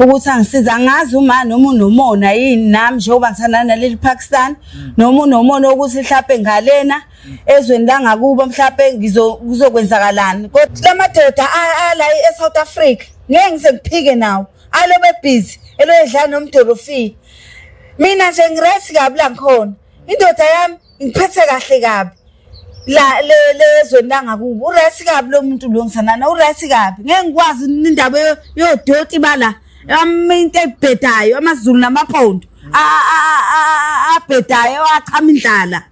ukuthi angisiza angazi uma noma unomona yini nami njengoba ngithandana naleli Pakistan mm. noma unomona ukuthi mhlawumbe ngalena mm. ezweni langakubo mhlawumbe ngizokwenzakalani kodwa lamadoda ala eSouth Africa ngeke ngise ngiphike nawo alobe busy eloyedlana nomdolofini mina nje ngiresi kabi la ngikhona indoda yami ngiphethe kahle kabi la le lezweni langakubo uright kabi lo muntu lo ngisanana uright kabi ngeke ngikwazi indaba yodoti bala into ebhedayo amazulu namaphondo abhedayo achama indlala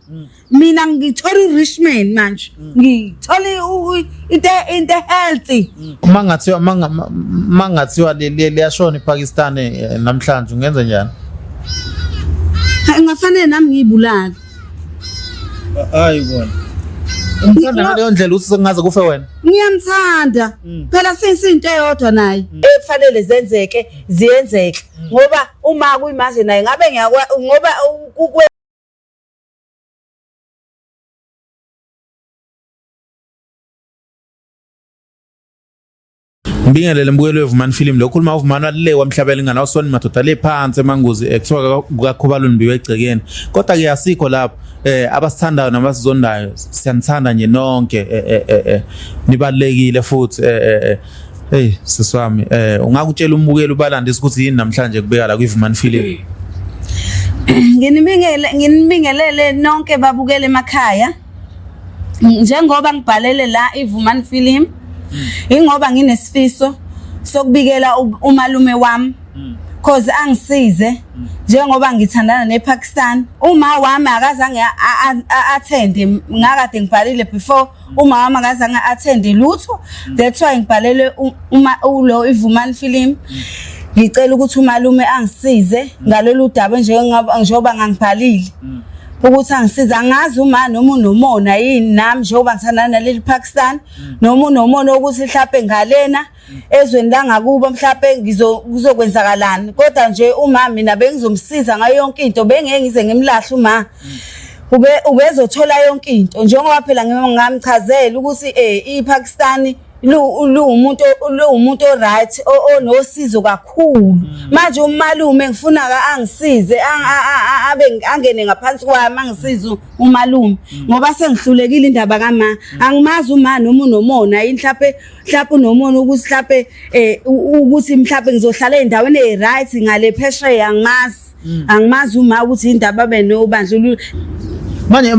mina ngithola i-richman manje ngithola into into healthy uma ngathiwa uma ngathiwa liyashona iPakistan eh, namhlanje ungenza njani ngafanele nami ngiyibulala hayi bona Umthanda ngaleyo ndlela uthi sengaze kufe wena. Ngiyamthanda. Mm. Phela sisinto eyodwa naye. Mm. Ekufanele zenzeke, ziyenzeke. Mm. Ngoba uma kuyimanje naye ngabe ngiyakwa ngoba ukwe Ngibingelele mbukelo wevumani film lo khuluma uvumani walile wamhlabela ingane wasoni madoda le phansi emanguzi ekuthiwa kukakhubaluni mbiwe egcekeni kodwa ke asikho lapho eh abasithandayo nabasizondayo siyanithanda nje nonke eh, eh, eh, eh nibalekile futhi eh, eh, eh. hey siswami eh ungakutshela umbukeli ubalandisa ukuthi yini namhlanje kubeka la kwivumani film nginibingelele nonke babukele emakhaya njengoba ngibhalele la iVumani Film hmm. ingoba nginesifiso sokubikela umalume wami hmm. cause angisize hmm. njengoba ngithandana nePakistan uma wami akazange athende ngakade ngibhalile before uma wami akazange athende lutho that's why ngibhalele uma ulo iVumani Film ngicela ukuthi umalume angisize ngalolu daba njengoba ngangibhalile ukuthi angisiza angazi uma noma unomona yini nami njengoba ngithandana naleli Pakistan mm. noma unomona ukuthi mhlawumbe ngalena mm. ezweni langakubo mhlawumbe ngizokwenzakalani kodwa nje uma mina bengizomsiza ngayo yonke into bengeke ngize ngimlahle uma mm. ube ubezothola yonke into njengoba phela ngamchazela ukuthi eh iPakistani luwumuntu luwumuntu oright onosizo kakhulu mm. manje umalume ngifuna ka angisize abe angene ngaphansi kwami angisize umalume mm. ngoba sengihlulekile indaba kama mm. angimazi uma noma unomona yini mhlawumbe mhlawumbe unomona ukuthi mhlawumbe eh, ukuthi mhlawumbe ngizohlala endaweni e right ngale phesheya angimazi mm. angimazi uma ukuthi yini ndaba babe nobandlululo manje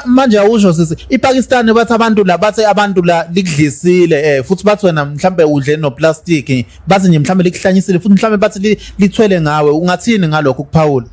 manje awusho sisi iPakistan bathi abantu la bathi abantu la likudlisile eh futhi bathi wena mhlambe udle no plastic bathi nje mhlambe likuhlanyisile futhi mhlambe bathi lithwele ngawe ungathini ngalokho ukuphawula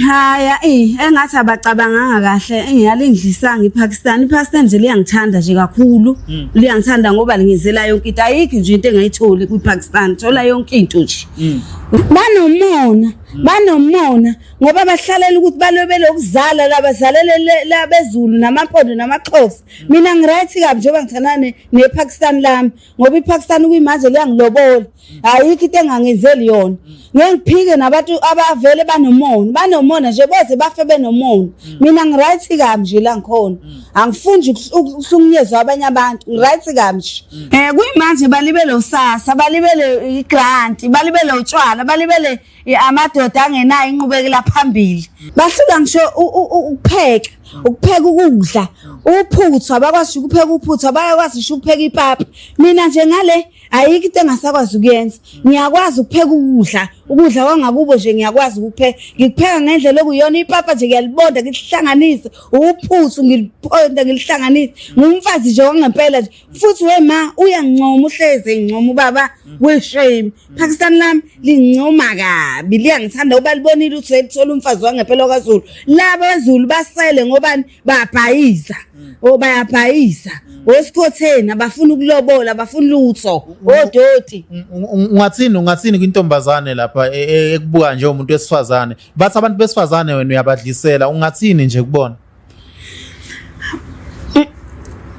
Haya eh engathi abacabanganga kahle engiyalindlisanga iPakistan iPakistan nje liyangithanda nje kakhulu hmm. liyangithanda ngoba lingizela yonke into ayikho nje into engayitholi kwiPakistan thola yonke into nje Mm. banomona mm. banomona ngoba bahlalela ukuthi balobele ukuzala labazalele labezulu namampondo namaxhosa mm. mina ngiright kabi njengoba ngithandana nepakistan lami ngoba ipakistan kuyimanje liyangilobola ayikho into engangenzeli yona ngeke ngiphike nabantu abavele banomona banomona nje boze bafe benomona mina ngiright kabi nje la ngikhona angifuni ukuhlukunyezwa abanye abantu ngiright kamshe mm. eh kuyimanje balibele usasa balibele igrant balibele utshwala balibele amadoda angenayo inqubekela phambili bahlula ngisho ukupheka ukupheka ukudla uphuthwa bakwazi ukupheka uphuthwa bayakwazi ukupheka ipapa mina nje ngale ayikho into engasakwazi ukuyenza ngiyakwazi ukupheka ukudla ukudla kwangakubo nje ngiyakwazi ukupheka ngikupheka ngendlela okuyona ipapa nje ngiyalibonda ngilihlanganise uphuthu ngiliphonda ngilihlanganise ngumfazi nje wangempela nje futhi we ma uyangincoma uhleze ngincoma ubaba weshame Pakistan lami lincoma kabi liyangithanda ubalibonile uthi elithola umfazi wangempela kwaZulu laba zulu basele ngobani bayabhayiza mm. o oh, bayabhayiza mm. osikhotheni abafuna ukulobola abafuna lutho odoti oh, mm, ungathini ungathini kwintombazane lapha e, e, ekubuka nje umuntu wesifazane bathi abantu besifazane wena uyabadlisela ungathini nje kubona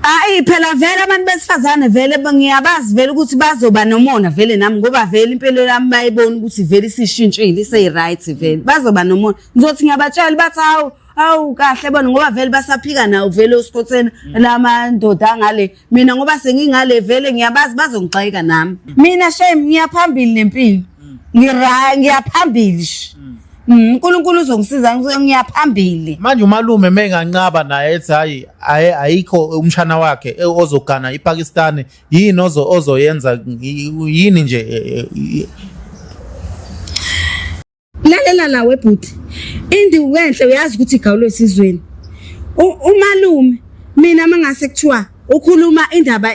Hayi phela vele abantu besifazane vele ngiyabazi vele ukuthi bazoba nomona vele nami ngoba vele impilo yami bayibona ukuthi vele isishintshile isey right vele bazoba nomona ngizothi ngiyabatshela bathi hawu awu kahle bona ngoba vele basaphika nawo vele usikhotheni mm. lamandoda angale mina ngoba sengingale vele ngiyabazi bazongixayeka nami mm. mina shame ngiyaphambili nempilo mm. ngira ngiyaphambili uNkulunkulu uzongisiza ngiyaphambili manje umalume menganqaba naye ethi hayi ayikho umshana wakhe e, ozogana iPakistan yini ozo ozoyenza yini nje e, e, lalela nawe bhuti indiwu enhle uyazi ukuthi igawulo esizweni umalume mina mangase kuthiwa ukhuluma indaba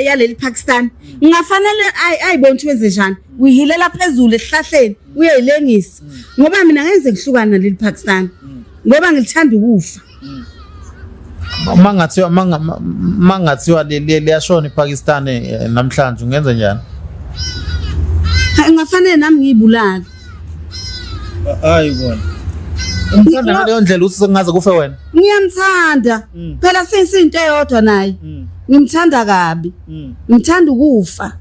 yaleli Pakistan ngingafanele ayibona ukuthi wenze njani uyihilela phezulu esihlahleni uyayilengisa ngoba mina ngeke ngihlukana naleli Pakistan ngoba ngilithanda ukufa mangathiwa mangathiwa liyashona iPakistan eh, namhlanje ungenza njani ngafanele nami ngiyibulale hayi bona umthanda ngaleyo ndlela uthi sengaze kufe wena ngiyamthanda mm. phela seyinto eyodwa naye mm. ngimthanda kabi mm. ngimthanda ukufa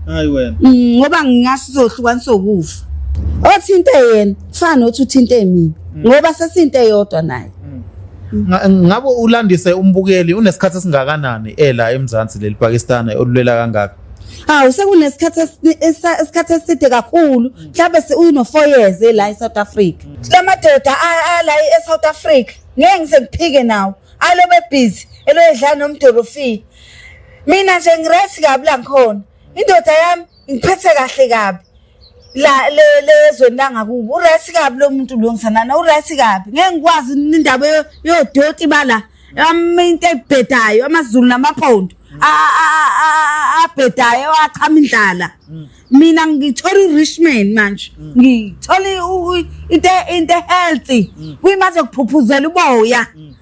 hayi wena ngoba ngingasho sohlukanisa ukufa othinte yena kufana nothi uthinte mina mm. ngoba sesinte eyodwa naye mm. ngabe ulandise umbukeli unesikhathi esingakanani ela eMzansi leli Pakistan olulela kangaka hawu sekunesikhathi esikhathi eside kakhulu mhlawumbe uyino 4 years la eSouth Africa lamadoda ala eSouth Africa ngeke ngise ngiphike nawo alo bebhizi eloyedlana nomdolofi mina nje ngiresi kabi la ngikhona indoda yami ngiphethe kahle kabi la le lezweni langakubo uright kabi lo muntu lo ngisanana uright kabi ngeke ngikwazi indaba yodoti bala into ebhedayo amazulu namapondo abhedayo achama indlala mina ngithola urishman manje ngithola into into healthy kwimaze kuphuphuzela uboya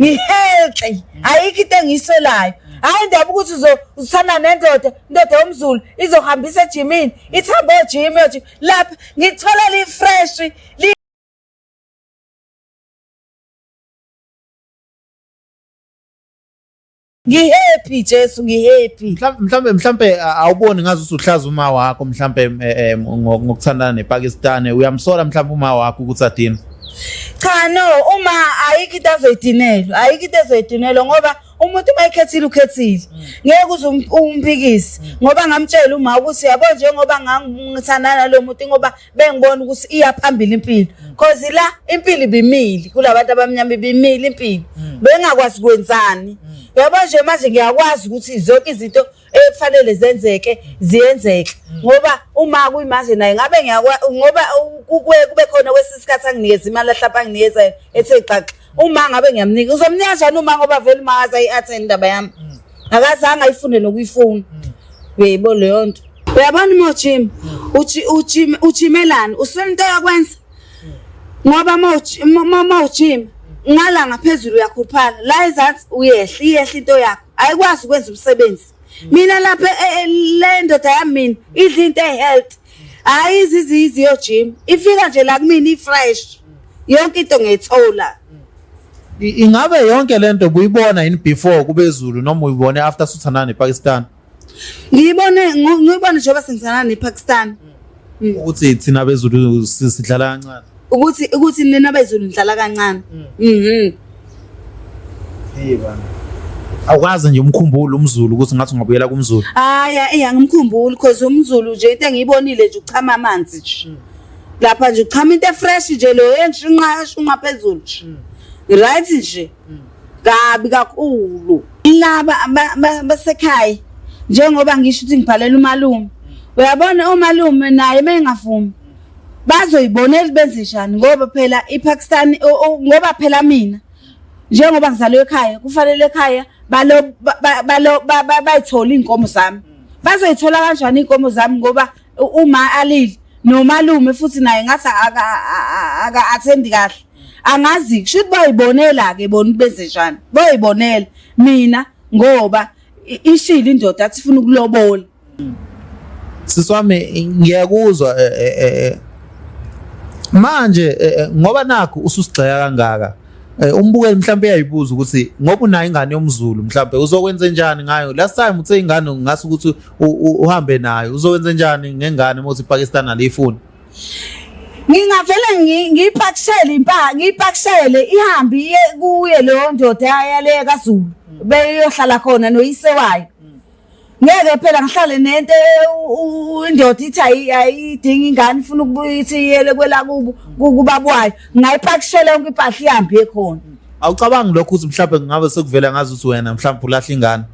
ngihealthy ayikho into engiyisolayo hayi ndaba ukuthi uzithanda nendoda indoda yomzulu izohambisa ejimini ithambe ojimi ojim lapha ngithola li-fresh Ngihappy Jesu ngihappy. Mhlambe mhlambe awuboni ngazi usuhlaza uma wakho mhlambe eh, eh, ngokuthandana nePakistan uyamsola mhlambe uma wakho ukuthi adina. Cha no uma ayikho into azoyidinelwa ayikho into ezoyidinelwa ngoba umuntu uma ekhethile ukhethile mm. ngeke uze um-, umpikise mm. ngoba ngamtshela uma ukuthi yabo njengoba ngangithandana nalo muntu ngoba bengibona ukuthi iya phambili impilo cause la impilo ibimili kulabantu abamnyama ibimili impilo mm. bengakwazi kwenzani mm. yabo nje manje ngiyakwazi ukuthi zonke izinto ekufanele zenzeke ziyenzeke mm. ngoba uma kuyimanje naye ngabe ngiyakwa ngoba kube khona kwesisikhathi anginikeza imali ahlapha anginikeza ethe xaxa Uma ngabe ngiyamnika uzomnika kanjani uma ngoba vele uma akaza i-attend indaba yami. Mm. Akazange ayifunde nokuyifuna. Mm. Beyibo leyo nto. Uyabona uma ujima mm. ujimelani uswela into yakwenza ngoba uma ujima ngala ngaphezulu uyakhuluphala la ezansi uyehla iyehla into yakho ayikwazi ukwenza umsebenzi mina lapha eh, eh, le ndoda yami mina idla into ehealth hayi izizizi yo gym ifika nje la kumina ifresh yonke into ngiyithola I- ingabe yonke lento buyibona yini before kubezulu noma uyibone after suthandana nepakistan ngiyibone ngu- ngiyibone njengoba sengizana nepakistan ukuthi thina bezulu si- sidlala kancane ukuthi ukuthi nina bezulu nidlala kancane mm. mhm hey bana awukwazi nje umkhumbulo umzulu ukuthi ngathi ungabuyela kumzulu haya eh angimkhumbuli because umzulu nje into engiyibonile nje uchama amanzi nje mm. lapha nje uchama into efresh nje lo entshinqa shunqa phezulu nje mm. right nje mm. kabi kakhulu laba basekhaya njengoba ngisho ukuthi ngibhalela umalume uyabona umalume naye mengavumi bazoyibonela benze njani ngoba phela iPakistan ngoba phela mina njengoba ngizalwe ekhaya kufanele ekhaya balo balo bayithola inkomo zami bazoyithola kanjani inkomo zami ngoba uma alile nomalume futhi naye ngathi aka athendi kahle angazi kusho ukuthi bayibonela ke bona benze njani bayibonela mina ngoba ishilo indoda athi funa ukulobola siswami ngiyakuzwa eh, eh, eh, manje ngoba nakho ususigxeka kangaka umbukeli mhlawumbe uyayibuza ukuthi ngoba unayo ingane yomzulu mhlawumbe uzokwenze njani ngayo last time uthe ingane ngase ukuthi uhambe nayo uzokwenze njani ngengane uma uthi Pakistan aliyifuni ngingavele ngiyipakishele impahla ngiyipakishele ihambe iye kuye leyo ndoda yaleyo kaZulu beyohlala khona noyise wayo ngeke phela ngihlale nento indoda ithi ayidingi ingane ifuna ukubuya ithi iyele kwelakubo kubaba wayo ngayipakishela yonke impahla ihambe ekhona awucabangi lokho ukuthi mhlawumbe kungabe sekuvela ngazi ukuthi wena mhlawumbe ulahla ingane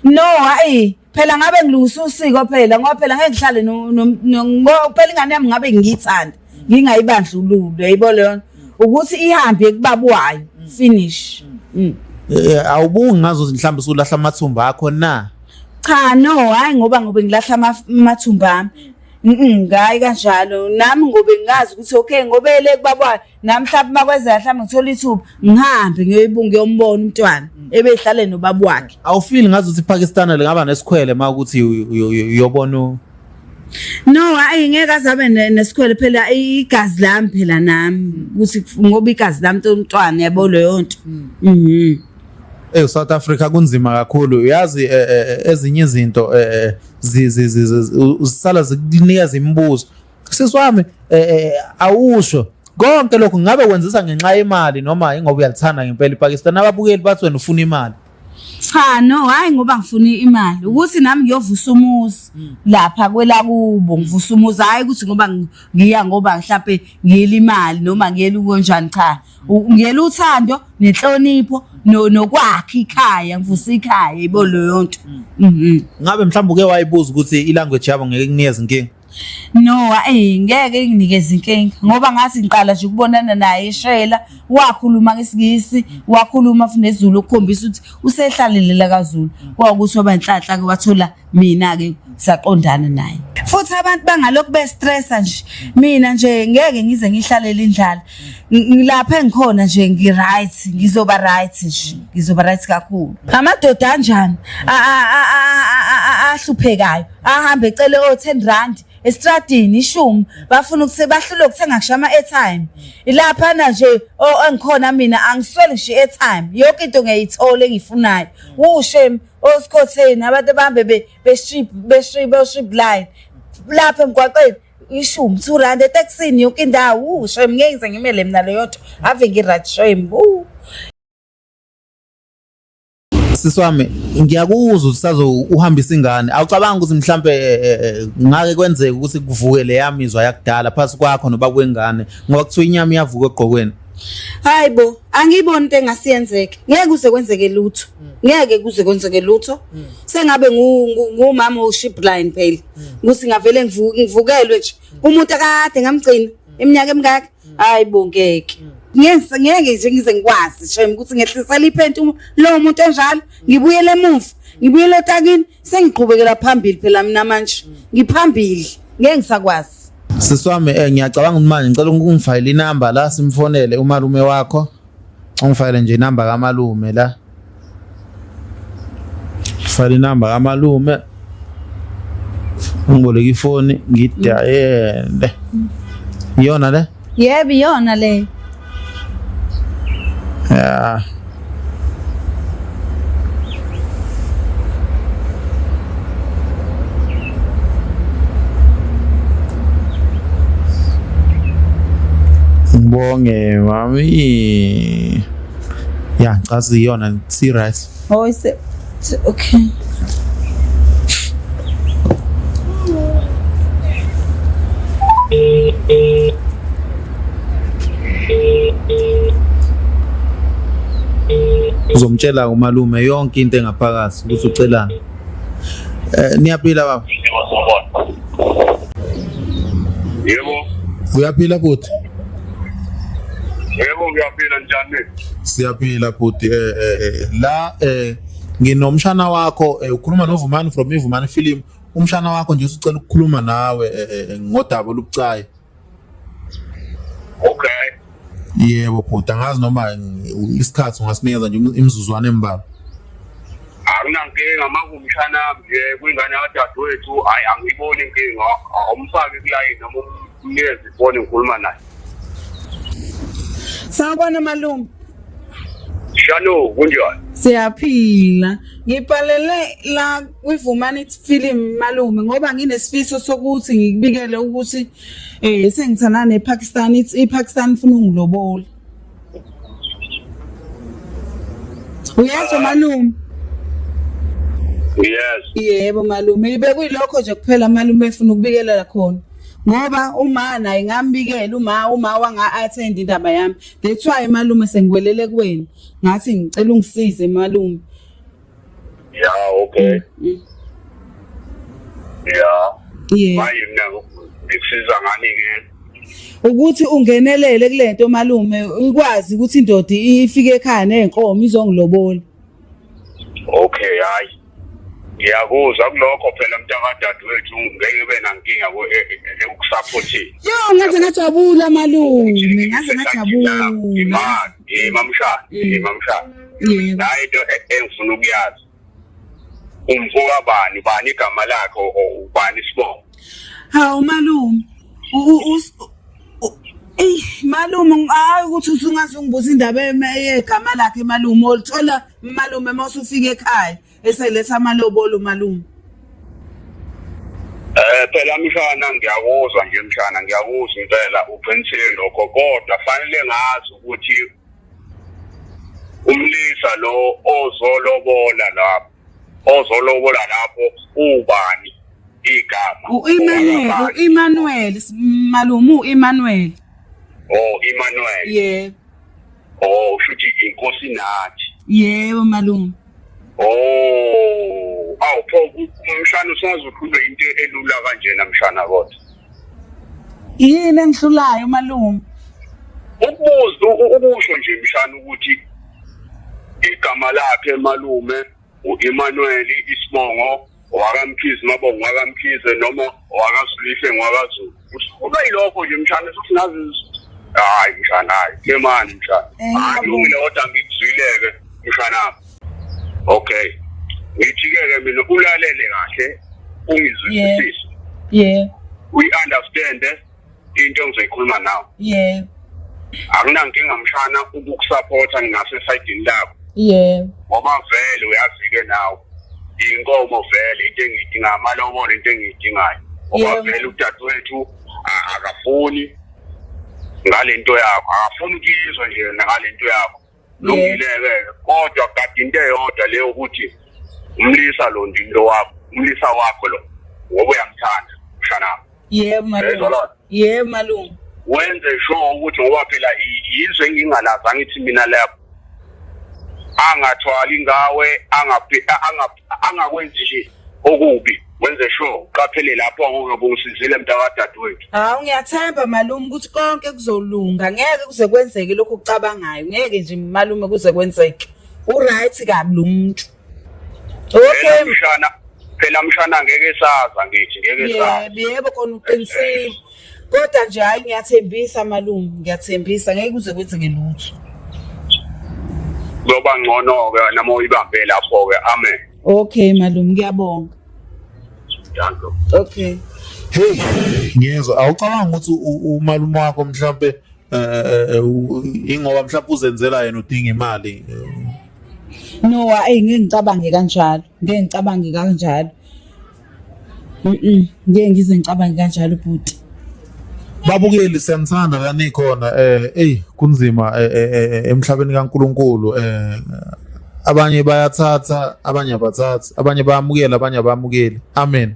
no hayi phela ngabe ngilungisa usiko phela ngoba phela ngeke ngihlale no phela ingane yami ngabe ngiyithanda ngingayibandlululi yayibo leyo ukuthi ihambe kubaba wayo mm. finish mm. Mm. Eh, eh, awubungi ngazo mhlawumbe usulahla amathumba akho na cha no hayi ngoba ngobe ngilahla amathumba ami Mhm ngayi kanjalo nami ngobe ngazi ukuthi okay ngobe le kubaba nami mhlawumbe makweza mhlawumbe ngithola ithuba ngihambe ngiyoyibunga yombona umntwana ebehlale nobaba wakhe awufili ngazi ukuthi iPakistan lingaba nesikhwele uma ukuthi uyobona No hayi ngeke azabe nesikhwele phela igazi lami phela nami ukuthi ngoba igazi lami umntwana yabo leyo nto. Hmm. Mhm. Eh South Africa kunzima kakhulu uyazi eh, eh, eh, ezinye izinto eh zisala zikunikeza imibuzo. Siswami eh awusho konke lokho ngabe wenzisa ngenxa yemali noma ingoba uyalithanda ngempela iPakistan ababukeli bathi wena ufuna imali. Cha no hayi ngoba ngifuna imali ukuthi nami ngiyovusa umuzi hmm. lapha kwelakubo ngivusa umuzi hayi ukuthi ngoba ngiya ngoba mhlawumbe ngiyela imali noma ngiyela ukonjani cha ngiyela uthando nenhlonipho nokwakhe ikhaya ngivusa ikhaya ibo leyo nto hmm. mhm. ngabe mhlawumbe uke wayibuza ukuthi ilanguage yabo ngeke kunikeze inkinga No, hayi ngeke inginikeze inkinga ngoba ngathi ngiqala nje ukubonana naye eshayela wakhuluma ngesingisi wakhuluma futhi nezulu ukukhombisa ukuthi usehlalelela kaZulu kwawukuthi waba inhlanhla ke wathola mina ke saqondana naye futhi abantu bangalokhu bestressa nje mina nje ngeke ngize ngihlalele indlala ngilapha engikhona nje ngiright ngizoba right nje ngizoba right kakhulu amadoda anjani ahluphekayo ahambe ecele o 10 rand estradini ishumi bafuna ukuthi bahlule ukuthenga ngisho ama airtime ilapha na nje engikhona mina angisweli ngisho airtime yonke into ngiyayithola engifunayo ushem osikhotheni abantu bahambe be be strip be strip be strip line lapha emgwaqeni ishumi two rand etaxini yonke indawo ushem ngeke ngize ngimele mina leyotho ave ngirajshem sisi wami ngiyakuzwa ukuthi sazo uhambisa ingane awucabanga ukuthi mhlampe eh, eh, eh, ngake kwenzeka ukuthi kuvuke le yamizwa yakudala phansi kwakho noba kwengane ngoba kuthiwa inyama iyavuka egqokweni hayi bo angiyiboni into engasiyenzeke ngeke kuze kwenzeke lutho ngeke kuze kwenzeke lutho sengabe ngumama ushipline phela ukuthi ngavele ngivukelwe nje umuntu akade ngamgcina iminyaka emingaka hayi bo ngeke ngeke ngeke nje ngize ngikwazi shem ukuthi ngehlisela iphenti lo muntu enjalo ngibuyele emuva ngibuyele otakini sengiqhubekela phambili phela mina manje ngiphambili ngeke ngisakwazi siswami eh ngiyacabanga ukuthi manje ngicela ungifayile inamba la simfonele umalume wakho ungifayile nje inamba kamalume la fana inamba kamalume ngiboleka ifoni ngidayele iyona le yebo iyona le ya ngibonge mami ya ngicabanga iyona si right oh is it okay uzomtshela umalume yonke into engaphakathi ukuthi ucelani eh niyaphila baba yebo uyaphila bhuti Yebo ngiyaphila njani? Siyaphila bhuti eh, eh, eh la eh nginomshana wakho eh, ukhuluma noVumani from iVumani film umshana wakho nje usicela ukukhuluma nawe eh, eh, eh ngodaba olubucayi. Okay. Yebo bhuti angazi noma isikhathi ungasinikeza nje imizuzwana embalwa. Anginankinga makumshana nje kwingane yadadewethu hayi angiyiboni inkinga awumfaki kulayini noma Ngiyezi phone ngikhuluma naye. Sawubona malume. Shano kunjani? Siyaphila. Ngibhalele la kwivumani film malume ngoba nginesifiso sokuthi ngikubikele ukuthi eh sengithana nePakistan iPakistan ifuna ungilobola. Uyezwa malume? Yes. Yebo malume, ibe kuyilokho nje kuphela malume efuna ukubikelela khona. Ngoba uma naye ngambikela uma uma wanga attend indaba yami. That's why malume sengiwelele kuwena. Ngathi ngicela ungisize malume. ya okay mm. ya yeah. manje mina ngikusiza ngani ke ukuthi ungenelele kulento malume ikwazi ukuthi indoda ifike ekhaya nenkomo izongilobola okay hayi ngiyakuzwa kulokho phela mntakadade wethu ngeke ube nankinga ekusaphothini eh, eh, eh, yo ngaze ngajabula malume ngaze ngajabula imali Eh mamshana, eh mm. mamshana. Yebo. Nayi into e- engifuna ukuyazi. Umfoka bani, bani igama lakhe o ubani isibongo. Hawu malume. Ey malume hayi ukuthi usungaze ungibuza indaba yegama lakhe malume olithola malume mawusufika ekhaya. eseletha amalobolo malume Eh phela mshana ngiyakuzwa nje mshana ngiyakuzwa impela uqinisile lokho kodwa fanele ngazi ukuthi umlisa lo ozolobola lapho ozolobola lapho ubani igama uImanuel uImanuel malumu uImanuel oh Emmanuel yebo oh shuthi inkosi nathi yebo malumu Oh, awu pho umshana usazi ukhulwe into elula kanjena mshana kodwa. Yini engihlulayo malume? Ukubuza ukusho nje mshana ukuthi igama lakhe malume uEmmanuel isibongo wakamkhize mabongo wakamkhize noma wakasulihle ngwakazulu kuba yilokho nje mshana futhi nazi hayi mshana hayi ke mani mshana alungile eh, kodwa ngikuzwileke mshana okay ngithike-ke mina ulalele kahle ungizwisisise yeah we understand eh? into engizoyikhuluma nawe yebo akunankinga mshana ukukusapotha ngingasesayidini lakho yebo ngoba vele uyazi-ke nawe inkomo vele into engiyidingayo amalobolo into engiyidingayo ngoba Yebo. vele udadewethu a- akafuni ngale nto yakho akafuni ukuyizwa nje yena ngale nto yakho lungileke kodwa kade into eyodwa leyo ukuthi umlisa lo ndinto wakho umlisa wakho lo ngoba uyamthanda mshanami yebo malungu yebo malungu wenze sure ukuthi ngoba phela yizwe engingalazi angithi mina lapho angathwali ngawe angakwenzi nje okubi wenze sure uqaphele lapho ungabe usizile mntakadadewethu hawu ngiyathemba malume ukuthi konke kuzolunga ngeke kuze kwenzeke lokhu ucabangayo ngeke nje malume kuze kwenzeke uright kabi lo muntu okay mshana phela mshana ngeke saza ngithi ngeke saza yebo yebo kona uqinisile kodwa nje hayi ngiyathembisa malume ngiyathembisa ngeke kuze kwenzeke lutho kuyoba ngcono-ke nama uyibambe lapho-ke amen Okay malume ngiyabonga. Danko. Okay. Hey, ngiyezwa. Awucabanga ukuthi umalume wakho mhlambe eh, eh, eh ingoba mhlawumbe uzenzela yena udinga imali. No, ayi ngeke ngicabange kanjalo. Ngeke ngicabange kanjalo. Mhm. Ngeke ngize ngicabange kanjalo bhuti. Babukeli siyanithanda la nikhona eh ey kunzima eh, eh, eh, emhlabeni kaNkuluNkulu eh abanye bayathatha abanye abathathi abanye bayamukela abanye abamukeli amen